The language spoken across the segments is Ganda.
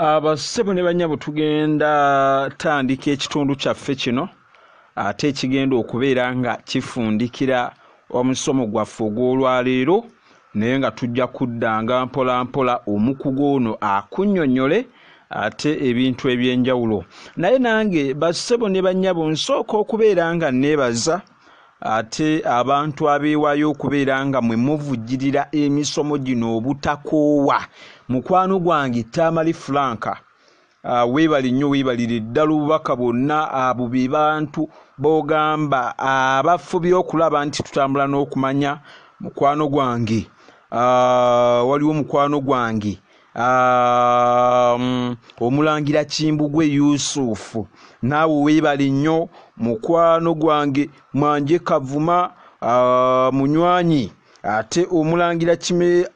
abassebo ne banyabo tugenda tandika ekitundu kyaffe kino ate ekigenda okubeera nga kifundikira omusomo gwaffe ogw'olwaleero naye nga tujja kuddanga mpolampola omukugu ono akunyonyole ate ebintu eby'enjawulo naye nange bassebo ne banyabo nsooka okubeera nga neebaza ate abantu abeewaayo okubeera nga mwe muvujjirira emisomo gino obutakoowa mukwano gwange tamale franka ah, weebale nnyo weebalire ddala obubaka bwonna abo be bantu b'ogamba abafubye okulaba nti tutambula n'okumanya mukwano gwange ah, waliwo mukwano gwange Um, omulangira kimbugwe yusufu naawe weebale nnyo mukwano gwange mwanje kavuma uh, munywanyi ate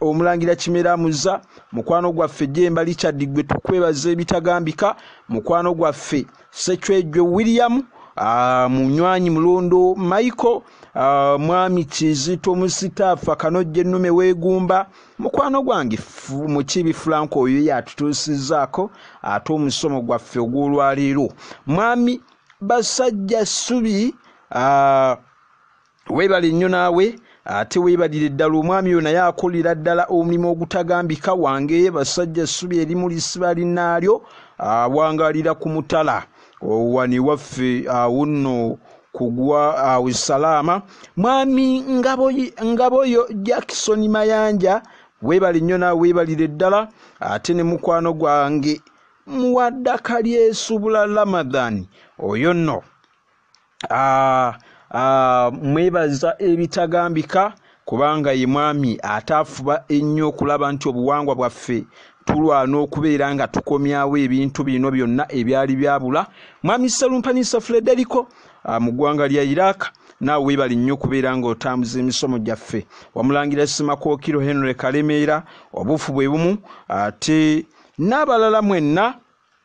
omulangira kimera muza mukwano gwaffe jemba richard gwe tukwebaza ebitagambika mukwano gwaffe sekyejwe william uh, munywanyi mulondo michael Uh, mwami kizito musitaafa kanojja ennume weegumba mukwano gwange mukibi fulanko oyo yatutuusizaako ate omusomo gwaffe ogw'olwaleero mwami basajja ssubi uh, weebale nnyo naawe ate weebalire ddala omwami oyo naye akolera ddala omulimu ogutagambika wange basajja ssubi erimu lisiba linnaalyo awangalira ku mutala owani waffe awunno kugwa awo salaama mwami ngaboyo jackson mayanja webali nnyo nawe webalire ddala ate ne mukwano gwange muwaddaka lyesubula ramadhan oyo nno ah, ah, mwebaza ebitagambika kubanga ye mwami ate afuba ennyo okulaba nti obuwangwa bwaffe tulwana okubeera nga tukomyawo ebintu bino byonna ebyali byabula mwami serumpanyisa frederiko ah, mu ggwanga lya iraq naawe weebale nnyo okubeera ng'otambuza emisomo gyaffe wamulangira simakookiro henry kalemeera obuufu bwe bumu ate n'abalala mwenna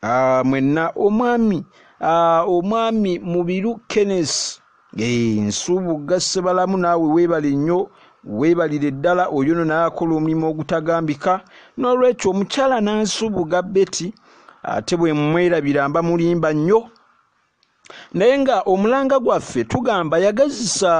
Ah, mwenna omwami ah, omwami mubiru kenes eh, nsuubugga ssebalamu naawe weebale nnyo weebalire ddala oyo no naakola omulimu ogutagambika n'olwekyo omukyala nansuubuga beti ate bwe mmwerabira mba mulimba nnyo naye nga omulanga gwaffe tugamba yagazisa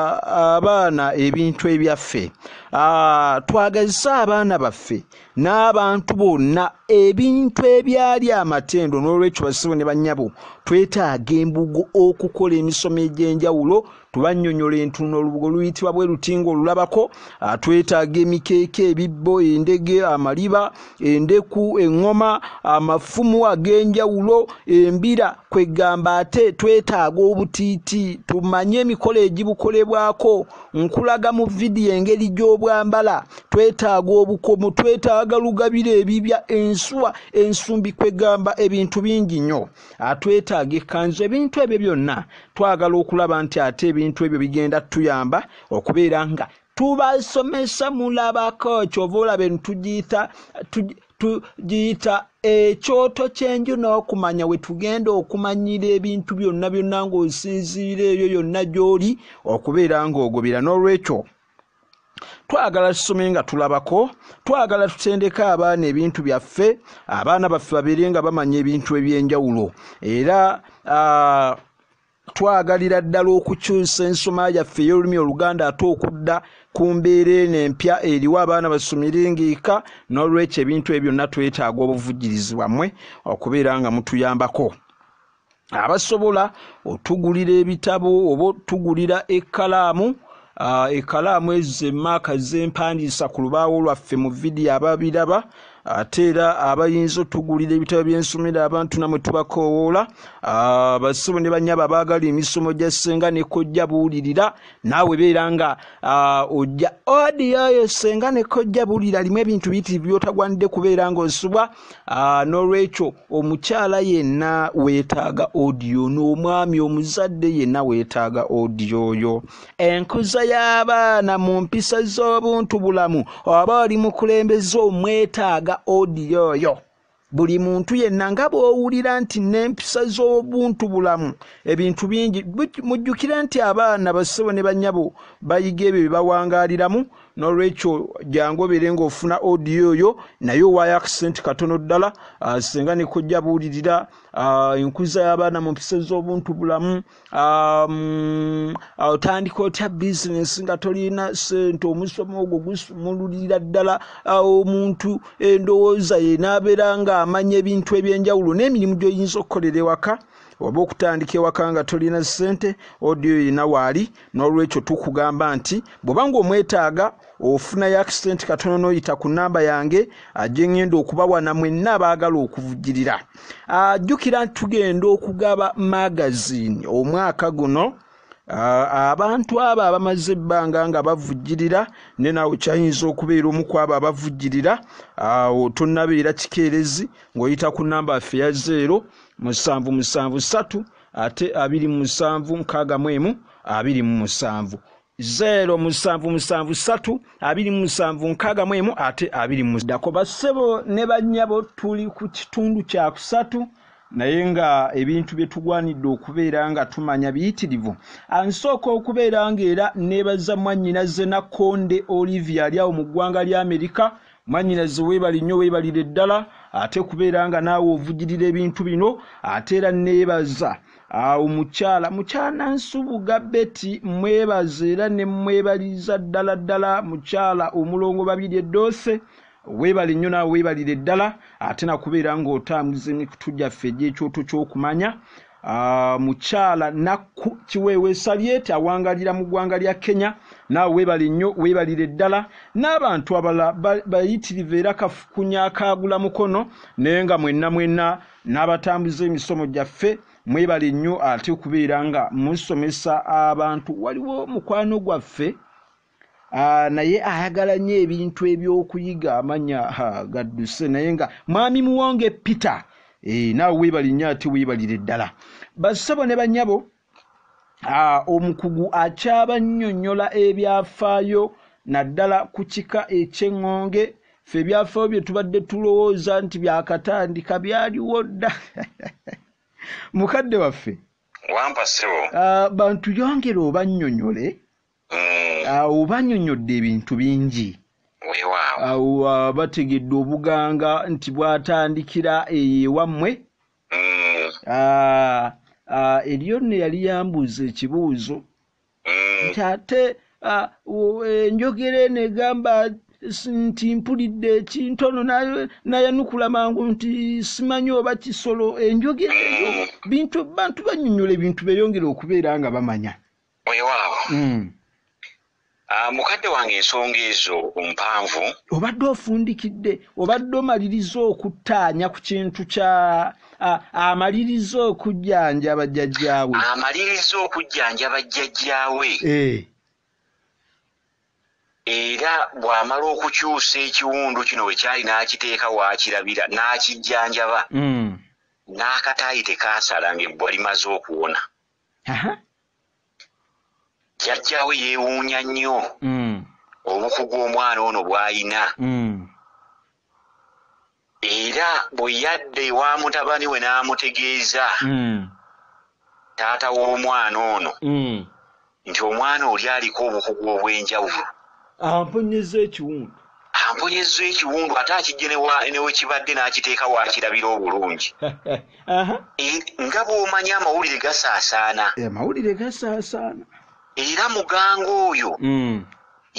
abaana ebintu ebyaffe ah, twagazise abaana baffe n'abantu bonna ebintu ebyali amatendo n'olwekyo basibo ne bannyabo twetaaga embugo okukola emisomo egy'enjawulo tubanyonyola entuno olubugo luyitibwa bwe lutinga olulabako ah, twetaaga emikeeka ebibbo endege amaliba endeku eŋŋoma amafumu ag'enjawulo embira kwegamba ate twetaaga obutiiti tumanye emikolo egibukolebwako nkulaga mu vidiyo engeri gy'obwambala twetaaga obukomo twetaaga lugabira ebibya ensuwa ensumbi kwegamba ebintu bingi nnyo atwetaaga ekkanzu ebintu ebyo byonna twagala okulaba nti ate ebintu ebyo bigenda tuyamba okubeera nga tubasomesa mulabako kyova olaba eno tugiyita tugiyita ekyoto kyenju n'okumanya wetugenda okumanyira ebintu byonna byonna ng'osinziira eyo yonna gy'oli okubeera ng'ogobera n'olwekyo twagala tusome nga tulabako twagala tutendeke abaana ebintu byaffe abaana baffe babeere nga bamanya ebintu eby'enjawulo era uh, twagalira ddala okukyusa ensoma yaffe ey'olulimi oluganda ate okudda ku mbeera eno empya eriwo abaana basomire ngaeka n'olwekyo ebintu ebyo byonna twetaaga obuvujjirizi bwammwe okubeera nga mutuyambako abasobola otugulira ebitabo oba otugulira ekkalaamu ah, ekkalaamu ezo zemaaka zempandiisa ku lubaawo lwaffe mu vidiyo ababiraba ate era abayinza otugulira ebitabo byensomero abantu namwe tubakoowoola ah, basibu ne banyaba abaagala emisomo gya ssenga ne kojja buwulirira naawe beera nga ah, ojja odioyo ssenga ne kojja buwulira limu ebintu biyitirivu byotagwanidde kubeera ngaosubwa n'olwekyo omukyala yenna weetaaga odiyo ono omwami omuzadde yenna weetaaga odiyo oyo enkuza y'abaana mu mpisa z'obuntu bulamu oba oli mukulembeze omwetaaga odiyo oyo buli muntu yenna nga bw'owulira nti n'empisa z'obuntu bulamu ebintu bingi mujjukire nti abaana bassebo ne bannyabo bayiga ebyo bye bawangaaliramu nolwekyo jangu obeere ngaofuna odiyo oyo naye owaayo akisenti katono ddala ah, singa nekojja buulirira ah, enkuza y'abaana mu mpisa z'obuntu bulamu ah, mm, otandika otya bizinesi nga tolina sente omusomo ogwo gusumululira ddala omuntu endowooza ye n'abeera ng'amanya ebintu eby'enjawulo n'emirimu gy'oyinza okukolera ewaka oba okutandika ewaka nga tolina ssente odiyo erina waali n'olwekyo tukugamba nti bw'oba nga omwetaaga ofunayo akisente katono n'oyita ku nnamba yange ajje ngenda okubawana mwenna abaagala okuvujirira ajjukira nti tugenda okugaba magazini omwaka guno abantu abo abamaze ebbanga nga bavujirira ne naawe kyayinza okubeera omu ku abo abavujirira awo tonabeera kikeerezi ng'oyita ku nnamba affe ya zeero musanvu musanvu satu ate abiri mu musanvu nkaaga mu emu abiri mu musanvu zeero musanvu musanvu satu abiri mu musanvu nkaaga mu emu ate abiri mu ddako bassebo ne bannyabo tuli ku kitundu kya kusatu naye nga ebintu bye tugwanidde okubeera nga tumanya biyitirivu ansooka okubeera ng'era neebaza mwannyinaze nakkonde olivia ali awo mu ggwanga lya amerika Mwanyinaze webale nnyo webalire ddala ate kubeera nga naawe ovujirira ebintu bino ate era neebaza awo mukyala mukyana nsubuga beti mwebaza era ne mwebaliza ddala ddala mukyala omulongo babiri eddoose weebale nnyo naawe weebalire ddala ate nakubeera ng'otambuza emikutu gyaffe egy'ekyoto ky'okumanya Mukyala Nakku Kiweewa Esabyeti awangalira mu gwanga lya Kenya naawe webale nnyo webalire ddala n'abantu abalala bayitirivu era kafukunya akaagula mukono naye nga mwenna mwenna n'abatambuza emisomo gyaffe mwebale nnyo ate okubeera nga musomesa abantu waliwo mukwano gwaffe Ah, naye ayagala nyo ebintu ebyokuyiga amanya gadduse naye nga mwami muwonge peter eh, naawe webali nyo ate webalire ddala basebo ne banyabo ah, omukugu akyaba nyonyola ebyafaayo naddala ku kika ekyeŋŋonge fe ebyafaayo bye tubadde tulowooza nti byakatandika byaliwo dda mukadde waffe wampa sebo ah, bantu yongere obanyonyole mm. awo banyonyodde ebintu bingi awo uh, bategedde obuganga nti bwatandikira eyo ewammwe mm. ah, ah, eriyo nno yali yambuuza ekibuuzo mm. nti ate ah, enjogera eno egamba nti mpulidde ekintono nayanukula mangu nti simanyi oba kisolo enjogera eyo bintu bantu banyonyola ebintu beyongere okubeera nga bamanya weewaawo hmm. ah, mukadde wange ensonga ezo mpanvu obadde ofundikidde obadde omaliriza okuttaanya ku kintu kya ah, amaliriza okujjanjaba jjajjaawe amaliriza okujjanjaba jjajjaawe eh. era bw'amala okukyusa ekiwundu kino bwe kyali n'akiteeka waakirabira n'akijjanjaba hmm. n'akataayi tekaasala ng'ebbwa limaze okuwona jjajjaawe yeewuunya nnyo mm. obukugu omwana ono bw'alina mm. era bwe yadda ewa mutabani we n'amutegeeza mm. taata w'omwana ono nti omwana oli aliko obukugu obw'enjawulo Ampunyizza ekiwundu. Ampunyizza ekiwundu ate akiggye ne wa, ne we kibadde n'akiteeka w'akirabira obulungi. Aha. E, nga bw'omanyi amawulire gasaasaana. E, amawulire gasaasaana. Era muganga oyo mm.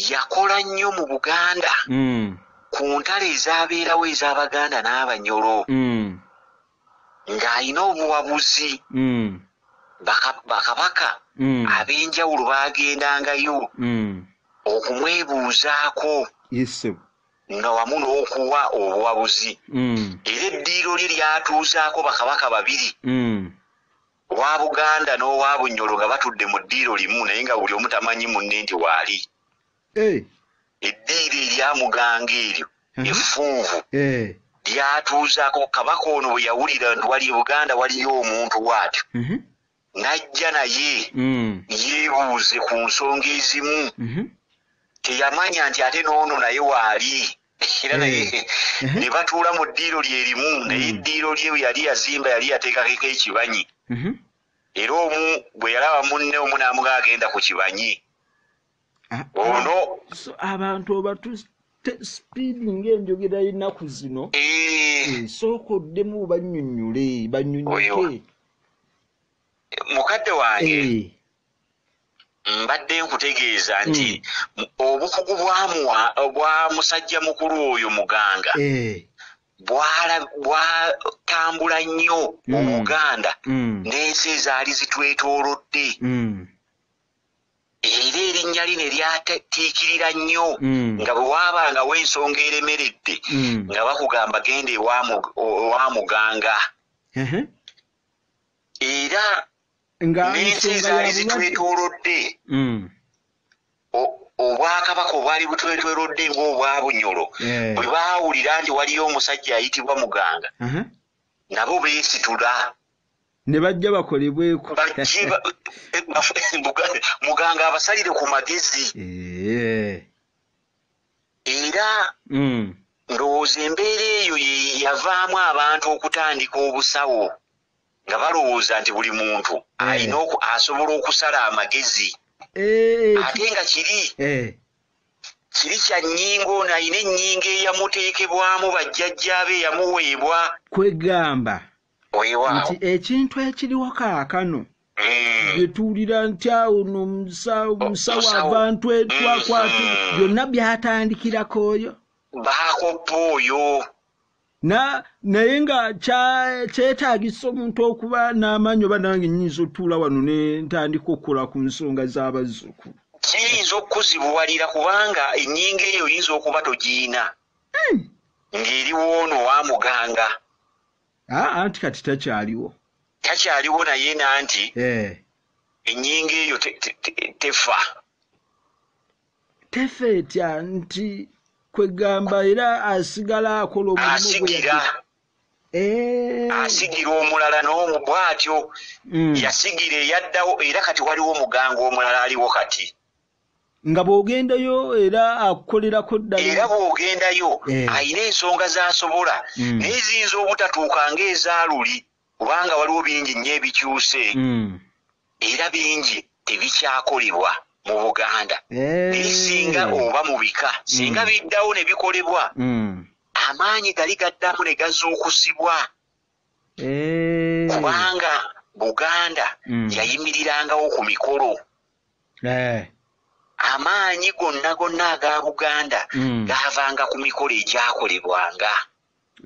yakola nnyo mu Buganda mm. ku ntalo ezabeerawo ez'Abaganda n'Abanyolo. Mm. ng'alina obuwabuzi mm. bakabaka mm. ab'enjawulo baagendangayo mm. okumwebuuzaako nga wamu n'okuwa obuwabuzi era eddiiro lye lyatuuzaako bakabaka babiri owa buganda n'owa bunyolo nga batudde mu ddiiro limu naye nga buli omu tamanyi munne nti waali Eh. Eddiiro erya Muganga eryo effunvu eh. lyatuuzaako Kabaka ono bwe yawulira nti wali e Buganda waliyo omuntu waatyo mhm. n'ajja naye mm. yeebuuze ku nsonga ezimu mhm. teyamanya nti ate n'ono naye waali era naye eh. mhm. ne batuula mu ddiiro lye limu naye mm. eddiiro lye yali yazimba yali yateekakeko ekibanyi era omu bwe yalaba munne omu n'amuga agenda ku kibanyi ah, ono ah, abantu obatu sipiidi ngaenjogera yenaku zino eh. eh, sooka oddemu banyunyule banyunyuke mukadde wange eh. mbadde nkutegeeza nti hmm. obukugu bwamuwa bwa musajja mukulu oyo muganga bwatambula nnyo hmm. obuganda hmm. n'ensi ezaali zitwetoolodde era erinnya lye ne lyatiikirira nnyo mm. nga bwe waabangawo ensonga eremeredde mm. nga bakugamba genda ewa muganga era n'ensi ezaali zitwetoolodde mm. obwakabaka obwali butwetwelodde ngaobwa bunyolo eh. bwe baawulira nti waliyo omusajja ayitibwa muganga nabo beesitula ne bajja bakolebweko muganga abasalire ku magezi eh. era mm. ndowooza embeera eyo yeyavaamu abantu okutandika obusawo nga balowooza nti buli muntu eh. alina asobola okusala amagezi eh. ate nga kiri kiri kya nnyingo ono alina ennyingo eyamuteekebwamu bajjajjaabe eyamuweebwa kwegamba nti ekintu ekiriwo kaakano mm. byetuwulira nti awo no musawo abantu etwakwatu mm. byonna byatandikirako oyo bakoppa oyo naye nga kyetagisa omuntu okuba n'amaanyi oba nange nyinza otuula wano ne ntandika okukola ku nsonga z'abazzukulu kiyinza okukuzibuwalira kubanga ennyinga eyo oyinza okuba togiina hmm. ng'eri woono wa muganga Ah, anti kati takyaliwo takyaliwo naye nanti eh. enyinga eyo tefa tefa etya nti kwegamba era asigala akola omulimuasigira eh. asigira omulala nomu bwatyo mm. yasigira eyaddawo era kati waliwo omuganga omulala aliwo kati nga bw'ogendayo era akukolerako ddala era bw'ogendayo eh. alina ensonga z'asobola hmm. naye ziyinza obutatuuka ng'ezaaluli kubanga waliwo bingi nnyo ebikyuse hmm. era bingi tebikyakolebwa mu buganda eh. naye singa oba mu bika singa hmm. biddawo ne bikolebwa amaanyi gali gaddamu ne gazuukusibwa eh. kubanga buganda yayimirirangawo ku mikolo eh. amaanyi gonna gonna aga buganda mm. gaavanga ku mikolo egyakolebwanga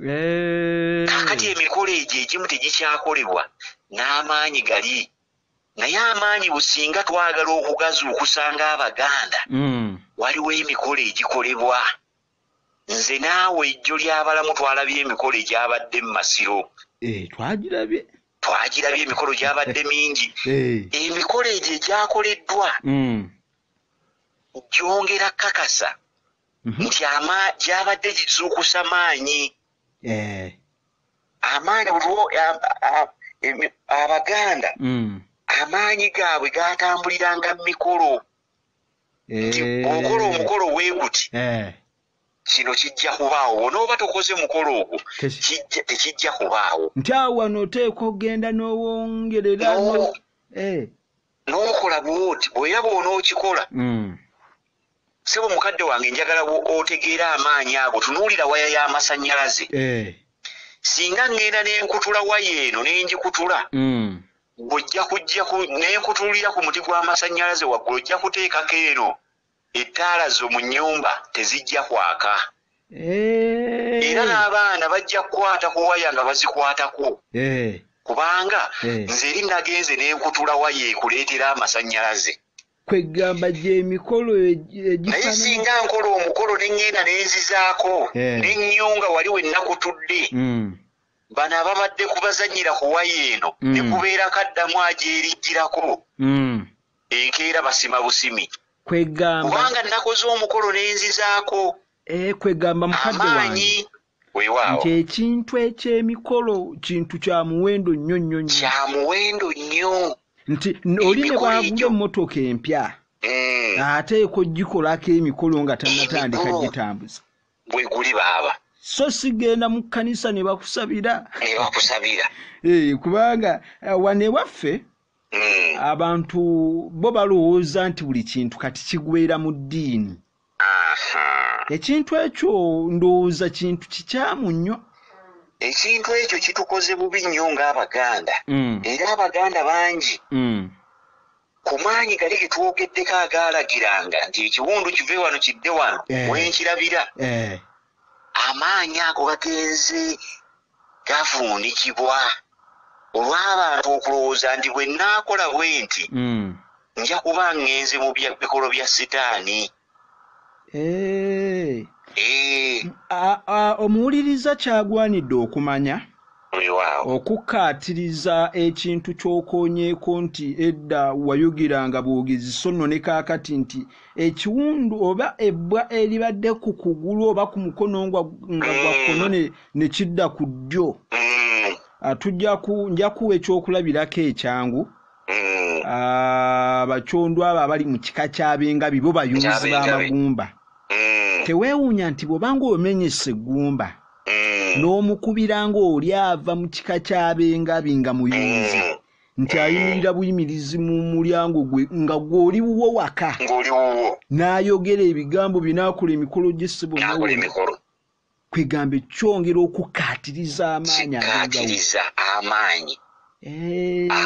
eh. kakati emikolo egyo egimu tegikyakolebwa n'amaanyi gali naye amaanyi businga twagala okugazuukusanga abaganda mm. waliwo emikolo egikolebwa nze naawe ejjo ly'abalamu twalabye emikolo egyabadde mu masiro eh, twagirabye twagirabye emikolo gyabadde mingi emikolo egyo egyakoleddwa mm. gyongera kakasa mhm. nti ama gyabadde gizuukusa maanyi eh. amaanyi buliwo abaganda mm. amaanyi gaabwe gatambuliranga mu mikolo nti eh. okola omukolo weguti eh. kino kijja kubaawo bw'onooba tokoze mukolo ogwo tekijja kubaawo nti awo wano oteekwa okugenda n'owongerera eh. n'okola bwoti bwera bw'onookikola hmm. sebo mukadde wange njagala otegeera amaanyi ago tunuulira waya y'amasannyalaze eh. singa ŋŋenda n'enkutula waya eno ne ngikutula hmm. gwojja kujja nenkutulira ku muti gw'amasannyalaze waggulu ojja kuteekako eno Ettaala zo mu nnyumba tezijja kwaka. Era Eehh. n'abaana bajja kukwata ku waya nga bazikwatako Eehh. kubanga Eehh. nze eri nagenze ne nkutula waya ekuleetera amasannyalaze. Kweggamba gy'emikolo egi, egifaanana. Naye singa nkola omukolo ne ngenda ne nzizaako Eehh. ne nnyunga wali we nakutudde, Mm. bano ababadde ku bazannyira ku waya eno ne Mm. kubeera kaddamu agyeriggirako. Mm. enkeera basima busimi kubanga nakoze omukolo nenzizaako eh, kwegamba mukadde wange nti ekintu ekyemikolo kintu kya muwendo nnyo nnyo nnyo kya muwendo nnyo nti oli ne baagula emmotoka empya mm. ate ekojjikolako emikolo nga tanatandika gitambuza bwe guli baaba so sigenda mu kkanisa ne bakusabira ne bakusabira eh, kubanga eh, wane waffe Mm. abantu bo balowooza nti buli kintu kati kigweera mu ddiini Aha. ekintu ekyo ndowooza kintu kikyamu nnyo ekintu ekyo kitukoze bubi nnyo ng'abaganda Mm, era abaganda bangi mm, ku maanyi gali ge twogeddeko agaalagiranga nti ekiwundu kive wano kidde wano Eh. wenkirabira eh, amaanyi ago gagenze gavuunikibwa olw'abantu okulowooza nti bwe nnaakola bwe nti mm. nja kuba ngenze mu bikolo bya sitaani eh. Eh. omuwuliriza kyagwanidde okumanya okukkaatiriza ekintu ky'okoonyeeko nti edda wayogiranga bwogezi so nno ne kaakati nti ekiwundu oba ebbwa eribadde ku kugulu oba ku mukono nga gwa kkono ne kidda ku ddyo mm. ah, nja kuwa ekyokulabirako ekyangu mm. ah, abacondw abo abali mu kika kyabenga bibo bayunzi b'amagumba mm. teweewuunya nti bw'obanga omenyesa eggumba n'omukubira ng'oli ava mu kika kyabengabi nga muyunzi nti ayimirira buyimirizi mu mulyango gwe nga gwoli wuwo waka n'ayogera ebigambo binakola emikolo gy'essebo kwegamba ekyongera okukkaatiriza amaanyi kikkaatiriza amaanyi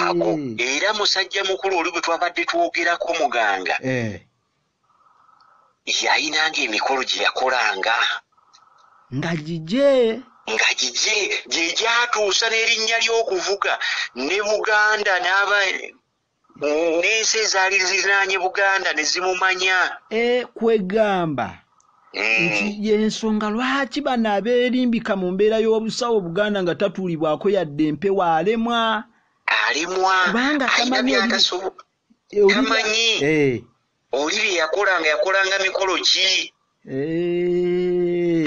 ago era musajja mukulu oli gwe twabadde twogerako muganga yayinanga emikolo gye yakolanga nga gigye nga gigye gye gyatuusa n'erinnya ly'okuvuga ne buganda n'aba n'ensi ezaali zirinaanye buganda ne zimumanya e, kwegamba mm. nti yensonga lwaki bano abeerimbika mu mbeera y'obusawo buganda nga tatuulibwako yadde empewo alemwa alemwa kubanga tamanyi eh. oli bye yakola nga yakolanga mikolo ki eh.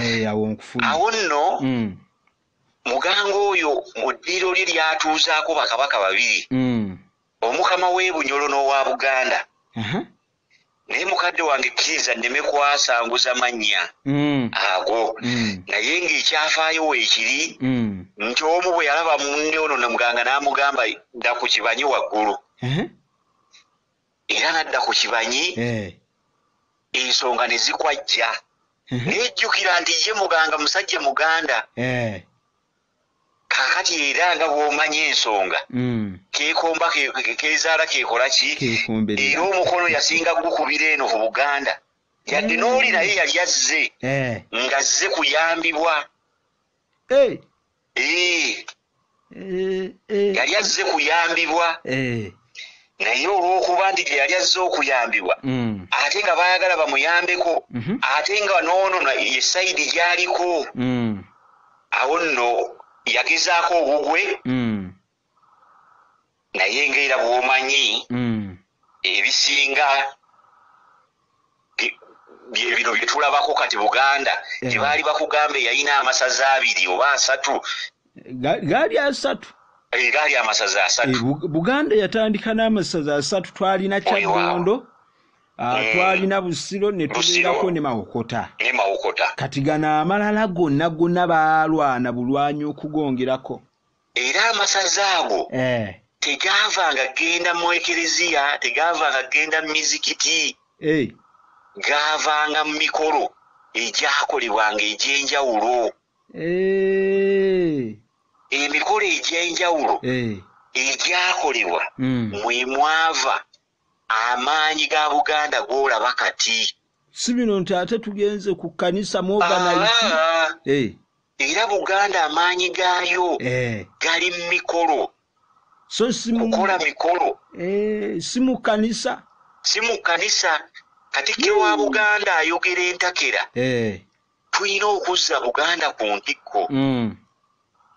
Eh, awo nno mm. Muganga oyo mu ddiiro lye lyatuuzaako bakabaka babiri, mm. omukama w'e Bunyolo n'owa Buganda. Uh -huh. naye mukadde wange kkiriza nneme kwasanguza mannya mm. ago mm. naye ng'ekyafaayo weekiri mm. nti omu bwe yalaba munne ono namuganga n'amugamba dda ku kibanye waggulu era nadda ku kibanyi eh. ensonga ne zikwajja mhm. nejjukira nti ye muganga musajja muganda eh. kakati era nga bwomanya ensonga mm. kekomba kezaala kekola ki era omukono yasinga gukubira eno ku buganda yadde mm. nooli naye yali azze eh. ngazze kuyambibwa yali azze kuyambibwa naye olwokuba nti gye yali azze okuyambibwa mm. ate nga baayagala bamuyambeko mhm. ate nga noono ye sayidi gyaliko mm. awo nno yagezaako obugwe mm. naye nga era bwomanyi mm. ebisinga byebino byetulabako kati buganda eh. gyebaali bakugambe yalina amasaza abiri oba asatu gaali asatu eh, gaali amasaza asatu eh, buganda yatandika n'amasaza asatu twalina kyadondo ah, mm. twalina busiro netubeerako ne mawokota kati gano amalala gonna gonna baalwana bulwanyi okugongerako era amasaza ago eh. tegava nga genda mu ekereziya tegava nga genda mu mizikiti eh. gavanga mu mikolo egyakolebwanga egyenjawulo eh. emikolo egyenjawulo egyakolebwa hmm. mwemwava Amaanyi ga Buganda gw'olaba kati. Si bino nti ate tugenze ku kkanisa mu oganayiti. Eh. Era Buganda amaanyi gaayo eh. gali mu mikolo. So si mu. Kukola mikolo. Eh, si mu kkanisa. Si mu kkanisa. Katikkiro wa Buganda ayogera entakera. tulina okuzza buganda ku ntikko mm.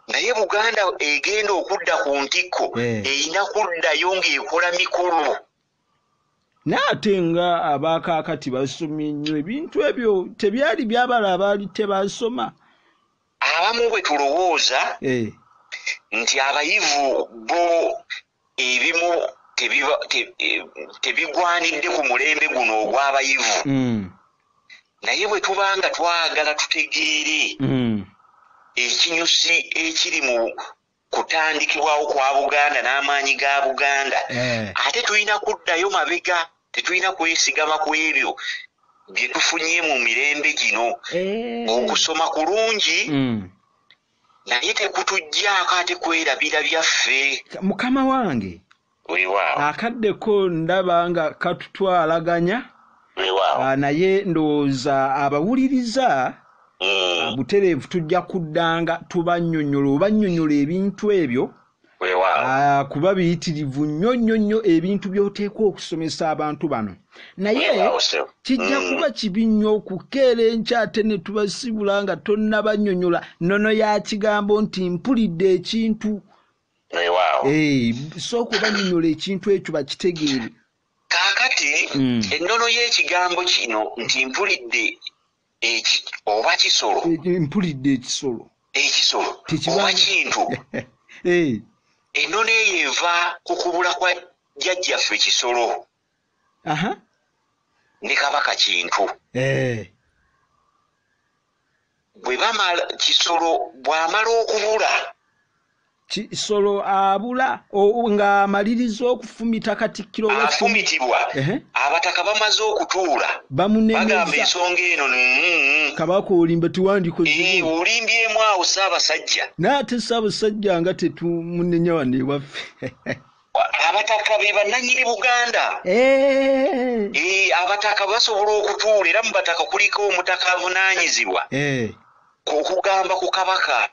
naye buganda egenda okudda ku ntikko eh. erina yeah. kuddayo ng'ekola mikolo naate nga abaakaakati basomye nnyo ebintu ebyo tebyali byabala abaali tebasoma abamu bwe tulowooza eh. nti abayivu bo ebimu tebigwanidde ku mulembe guno ogw'abayivu mm. naye bwe tuba nga twagala tutegeere mm. ekinyusi ekiri mu kutandikibwawo kwa buganda n'amaanyi ga buganda eh. ate tulina kuddayo mabega tetulina kwesigama ku ebyo bye tufunye mu mirembe gino eh. okusoma kulungi mm. naye tekutujjaako ate kwerabira byaffe. Mukama wange akadde ko ndaba nga katutwalaganya ah, naye ndowooza abawuliriza mm. ah, butereevu tujja kuddanga tubanyonyola obanyonyola ebintu ebyo Ah, kuba biyitirivu nnyo nnyo nnyo ebintu by'oteekwa okusomesa abantu bano naye kijja mm. kuba kibi nnyo okukeera enkya ate ne tubasibula nga tonnabanyonyola nono ya kigambo nti mpulidde ekintu eh, sooka obanyonyola ekintu ekyo bakitegeere kaakati mm. ennono y'ekigambo kino nti mpulidde eki oba kisolo e, e, mpulidde ekisolo ekisolo oba kintu eh. ennono eyo eva ku kubula kwa jjajjaffe kisolo ne kabaka kintu eh. bwe bamala kisolo bw'amala okubula kisolo abula ng'amaliriza okufumita katikkiro afumitibwa abataka bamaze okutuula bagamba ensonga eno kabaka olimba tiwandikolimbyemu awo saabasajja naye ate saabasajja nga tetumunenya wano ewaffe abataka be bannanyini buganda eh. Eh, abataka basobola okutuula era mu bataka kuliko omutaka avunanyizibwa eh. okugamba ku kabaka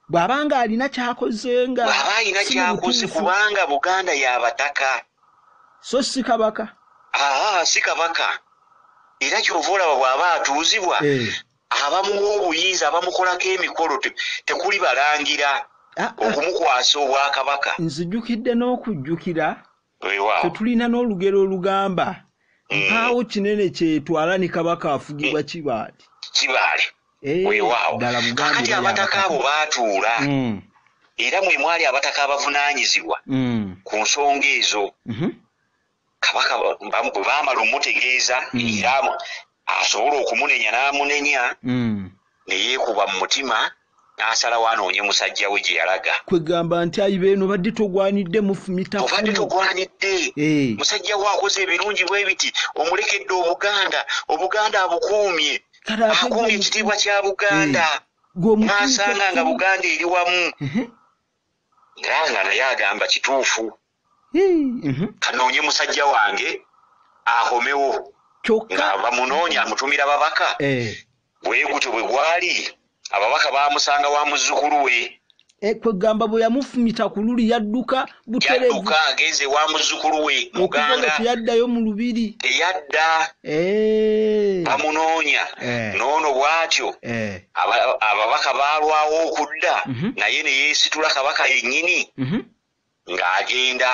Bw'aba nga alina ky'akoze nga bw'aba alina ky'akoze kubanga Buganda ya Bataka. So si Kabaka. Haa si Kabaka. Era ky'ova olaba bw'aba atuuzibwa eh. abamuwa obuyinza abamukolako emikolo tekuli balangira ah, ah. okumukwasa obwakabaka. Nzijukidde n'okujjukira Ffe tulina n'olugero olugamba mm. mpaawo kinene kyetwala ne kabaka afugibwa mm. kibaali kibaali eh, weewaawo kakati abataka abo baatuula mm. era mwe mwali abataka abavunaanyizibwa ku nsonga ezo mm-hmm. kabaka bwe baamala omutegeeza era asobola okumunenya n'amunenya mm. ne yeekuba mu mutima n'asalawo anoonye musajja we gye yalaga kwegamba nti ayi beeno obadde togwanidde mufumita obadde togwanidde eh. musajja we akoze ebirungi bwe biti omulekedde obuganda obuganda abukuumye akuumye ekitiibwa kya buganda eh. n'asanga nga buganda eri wamu mhm. nga nga naye agamba kituufu mhm. kanoonye musajja wange ahomewo nga bamunoonya amutumira babaka eh. bwegutyo bwe gwali ababaka bamusanga wa muzzukulu we eh, kwegamba bwe yamufumita ku luli yadduka butereyaduka agenze wa muzzukulu we muganga teyaddayo mu lubiri teyadda eh. bamunoonya noono bwatyo ababaka baalwawo okudda mhm. naye ne yeesitula kabaka yennyini mhm. ng'agenda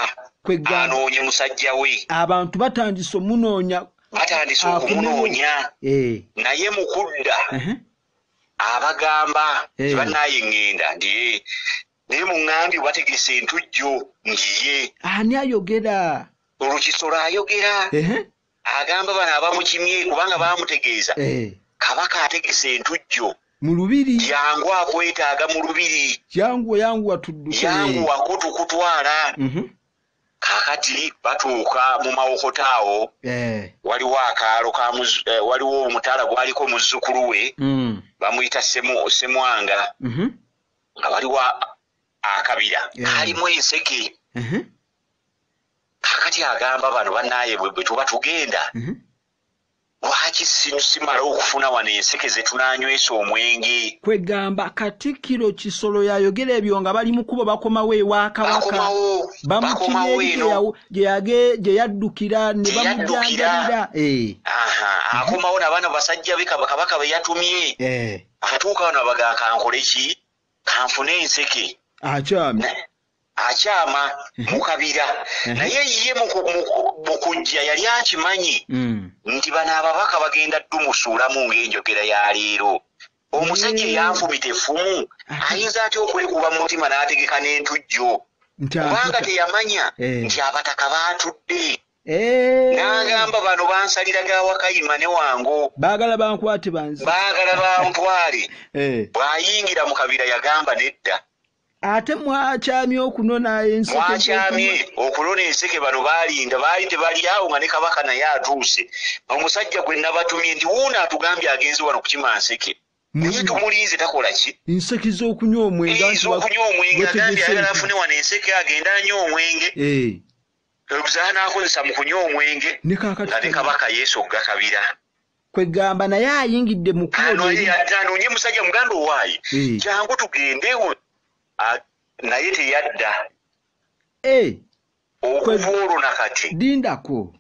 anoonye musajja we abantu batandise omunoonya batandise okumunoonya eh. naye mu kudda abagamba eh. tebanaye ŋŋenda ndiye naye muŋŋambye bategese entujjo ngiye ani ayogera olukisolo ayogera agamba bano abamukimye kubanga bamutegeeza eh. kabaka ategese entujjo mu lubiri jangu akwetaaga mu lubiri jangu yangu watuddukeyangu wakutukutwala mhm. kakati batuuka mu mawokota awo eh. waliwo akaalo eh, waliwo omutala gwaliko muzzukulu we mm. bamuyita semwanga mhm. nga waliwo akabira kalimu enseke mhm. kakati agamba bano banaye bwetuba tugenda mhm. lwaki simala okufuna wano enseke zetunanywesa omwenge kwegamba katikiro kisolo yayogera ebyo nga bali mukubo bakomawo ewakabaka bamukiryeyawo gyeyaddukira nebamujanjabira eh. akomawo nabaana basajja be kabaka beyatumye eh. atuuka wano abaga kankoleki kanfune enseke akyami akyama mu kabira naye ye mukujja yali akimanyi mm. nti bano ababaka bagenda dumusuulamu ng'enjogera ya leero omusajja eyanfumita effumu ayinza atya okulikuba mu mutima n'ategeka n'entujjo kubanga teyamanya eh. nti abataka baatudde eh. n'agamba bano bansalira ga wakayima ne wango baagala bankwate banzi baagala bantwale eh. bw'ayingira mu kabira yagamba nedda ate mwakyamye okunona ensekemwakyamye okunona enseke bano balinda baali tebalyawo nga ne kabaka naye atuuse omusajja gwe nabatumye nti wuuno atugambye agenze wano kukima nseke naye tumulinze takola ki nseke zokunywa omwenge zokunywa omwenge agambye ayagala afune wano enseke agenda anywa omwenge eh. oluzaha nakozesa mu kunywa omwenge nga ne kabaka yesu okugakabira kwegamba naye ayingidde mukuanonye musajja muganda owaayi eh. jangu tugendewo naye teyadda eh. okuva olwo nakati lindako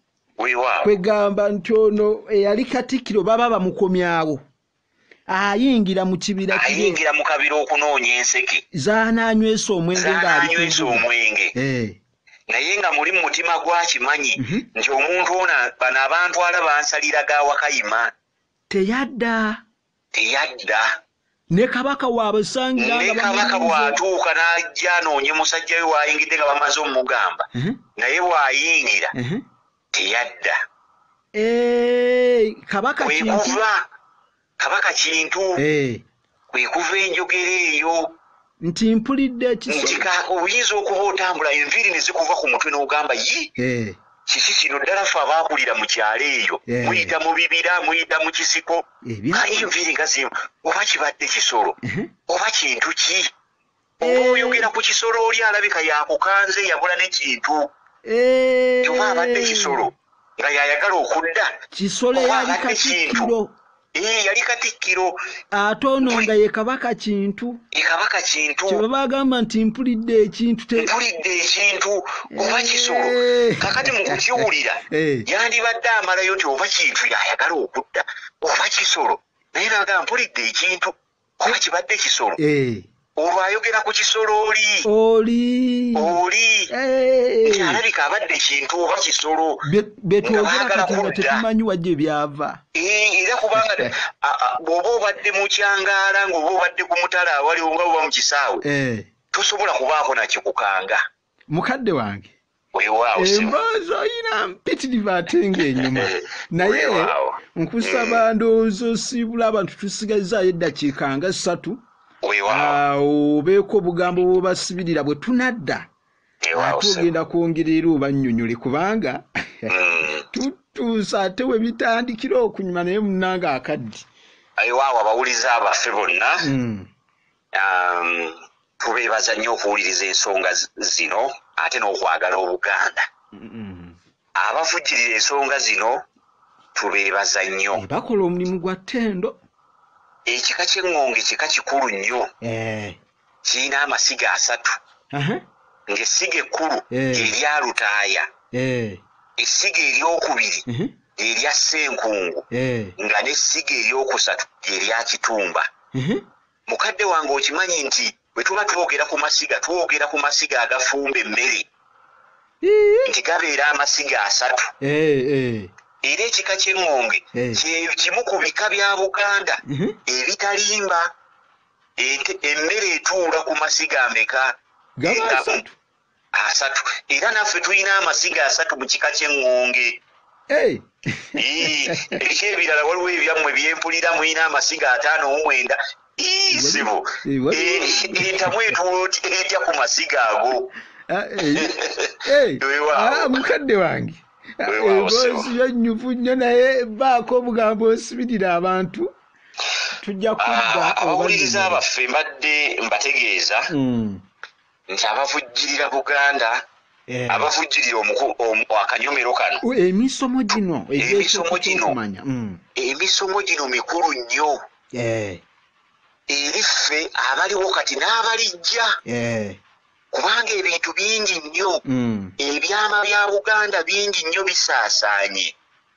kwegamba nti ono eyali katikkiro baba bamukomyawo ayingira mu kibira ayingira mu kabira okunoonya enseke zananywesa omwenge ngaanywesa omwenge eh. naye nga muli mu mutima gwe akimanyi mhm. nti omuntu ono bano abantwala bansalira ga wakayima teyadda teyadda ne kabaka waabasangirane kabaka bw'atuuka n'ajja anoonye musajja we waayingidde nga bamaze omugamba mhm. naye bw'ayingira mhm. teyadda eh, kabaka kwekuva Kabaka Kintu eh. kwe kuva enjogera eyo nti mpulidde ekiso nti oyinza okuba otambula enviiri ne zikuva ku mutwe n'ogamba yi eh. kiki kino ddala fe abaakulira mu kyalo eyo eh. muyita mu bibira muyita mu kisiko kali enviiri nga zimu oba kibadde kisolo oba kintu ki Oba oyogera ku kisolo oli alabika yakukanze yabula ne kintu. Eh. Oba abadde kisolo nga yayagala okudda. Kisolo yali katikkiro. Eh, yali katikkiro. Ate ono nga ye kabaka kintu. Ye kabaka kintu. Kye baba agamba nti mpulidde ekintu te. Mpulidde ekintu oba eh. kisolo. Kakati mu kukiwulira eh. yandibadde amalayo nti oba kintu yayagala okudda oba kisolo. Naye naga mpulidde ekintu. Kule kibadde kisolo. Eh. Olwo ayogera ku kisolo oli. Oli. Oli. Eh. Nti alabika abadde kintu oba kisolo. Betwogera kati nga tetumanyi wajje byava. Eh, era kubanga bw'oba obadde mu kyangaala ng'oba obadde ku mutala awali oba oba mu kisaawe. Eh. Tosobola kubaako nakikukanga. mukadde wange emboozi oyina mpitirivu ate ngaenyuma naye nkusaba mm. ndowooza osiibula abantu tusigazaayo eddakiika nga ssatu awo obeeko obugambo bwobasibirira bwe tunadda ate ogenda kwongera era obanyonyole kubanga mm. tutuusa ate webitandikira okunyuma naye munanga akaddi aiwaawo abawuliza abaffe bonna mm. Um, tubeebaza nnyo okuwuliriza ensonga zino ate n'okwagala obuganda abavujjirira ensonga zino tubeebaza nnyo eh, bakola omulimu gwa ttendo ekika ky'eŋŋonge kika kikulu nnyo eh. kirina amasiga asatu ng'essiga ekkulu eh. erya lutaaya essiga eryokubiri mhm. erya ssenkungu nga n'essiga eryokusatu erya kitumba mhm. Mukadde wange okimanyi nti bwe tuba twogera ku masiga twogera ku masiga agafumba emmere nti gabeera amasiga asatu eh, eh. era ekika ky'eŋŋonge eh. kyekimu ku bika bya buganda mhm. ebitalimba emmere etuula ku masiga ameka asatu era naffe tulina amasiga asatu mu kika ky'eŋŋonge eriko ebirala waliwo ebyammwe byempulira mulina amasiga ataano mu mwenda izibu entamu etuula oti etya ku masiga ago ah, eh, eh, eh, ah, mukadde wange ah, eboozi yonyuvu nnyo naye baako obugambo osibirira abantu tujja kudda abawuliriza baffe mbadde mbategeeza hmm. nti abavujjirira buganda eh. abavujjirira akanyomero kano emisomo gino emisomo gino mm. emisomo gino mikulu nnyo eh. eri ffe abaliwo kati n'abalijja eh. kubanga ebintu bingi nnyo mm. ebyama bya buganda bingi nnyo bisaasaanye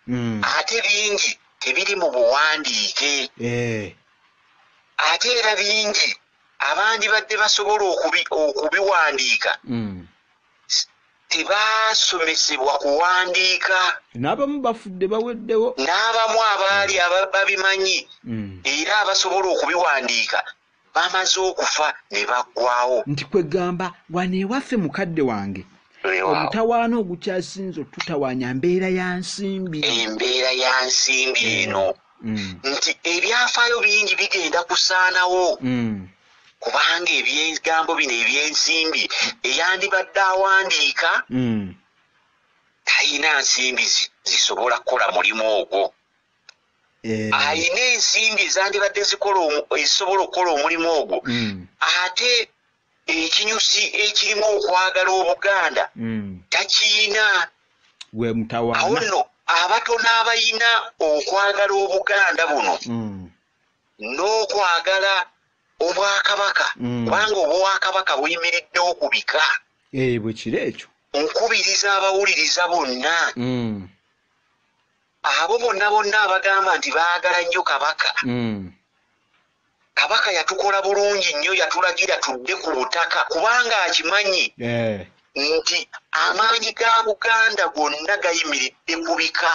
mm. ate bingi tebiri mu buwandiike ate era bingi abandibadde basobola okubiwandiika mm. tebaasomesebwa kuwandiika n'abamu bafudde baweddewo n'abamu abaali mm. babimanyi mm. era abasobola okubiwandiika bamaze okufa ne baggwawo nti kwegamba wano ewaffe mukadde wange omutawaana ogukyasinze otutawaanya mbeera ya nsimbi embeera ya nsimbi eno mm. mm. nti ebyafaayo bingi bigenda kusaanawo mm. kubanga ebyegambo bino ebyensimbi eyandibadde awandiika mm. talina nsimbi zisobola kukola mulimu ogwo eh. alina ensimbi ezandibadde ezisobola okukola omulimu ogwo ate ekinyusi ekirimu okwagala obuganda mm. takiyina gwe mutawana awo nno abatono abayina okwagala obuganda buno mm. n'okwagala obwakabaka mm. kubanga obwakabaka buyimiriddewo ku bika eh, bwekiro ekyo nkubiriza abawuliriza bonna abo bonna bonna abagamba nti baagala nnyo kabaka mm. kabaka yatukola bulungi nnyo yatulagira tudde ku butaka kubanga akimanyi eh. nti amaanyi ga buganda gonna gayimiridde ku bika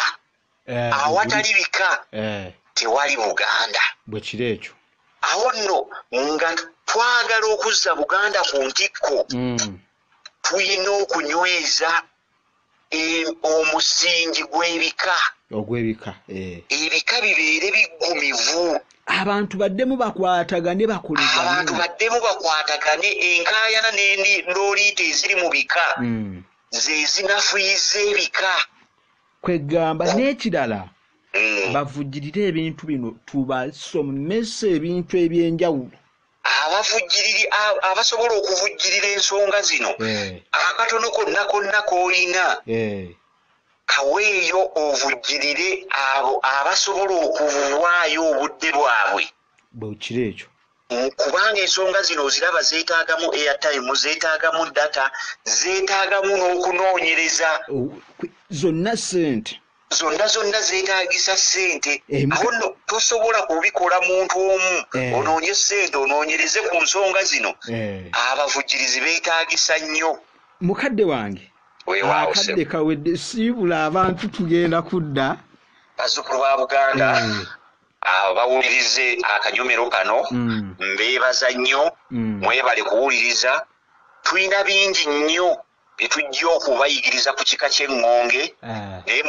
eh, awatali bika eh. tewali buganda bwe kiro ekyo awo nno nga twagala okuzza buganda ku ntikko mm. tulina okunyweza omusingi gw'ebika ogw'ebika eh. ebika bibeere biggumivu abantu baddemu bakwatagane bakoleza abantu baddemu bakwatagane enkaayana n'endi looliita eziri mu bika hmm. ze zinafuyiza ebika kwegamba n'ekirala hmm. bavujirire ebintu bino tubasomese ebintu eby'enjawulo abavujjiriri abasobola okuvujjirira ensonga zino eh. akatono konna konna k'olina eh. kaweeyo ovujjirire abo abasobola okuvwaayo obudde bwabwe bwekiro ekyo kubanga ensonga zino oziraba zeetaagamu airtime zeetaagamu data zeetaagamu n'okunoonyereza zonna sente zonna zonna zeetagisa ssente awo nno tosobola kubikola muntu omu eh. onoonye ssente onoonyereze ku nsonga zino eh. abavujjirizi beetagisa nnyo mukadde wange akadde kawedde siibula abantu tugenda kudda bazzukulu ba buganda eh. abawulirize akanyomero kano mm. mbeebaza nnyo mm. mwebale kuwuliriza tulina bingi nnyo bye tujja okubayigiriza ku kika ky'eŋŋonge eh. naye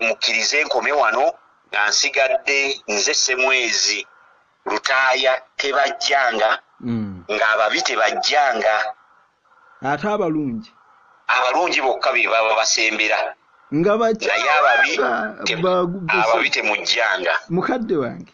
mukkirize nkome wano nga nsigadde nze semwezi lutaaya tebajjanga hmm. ng'ababi tebajjanga ate abalungi abalungi bokka be baba basembera nga naye ababi ababi temujjanga mukadde wange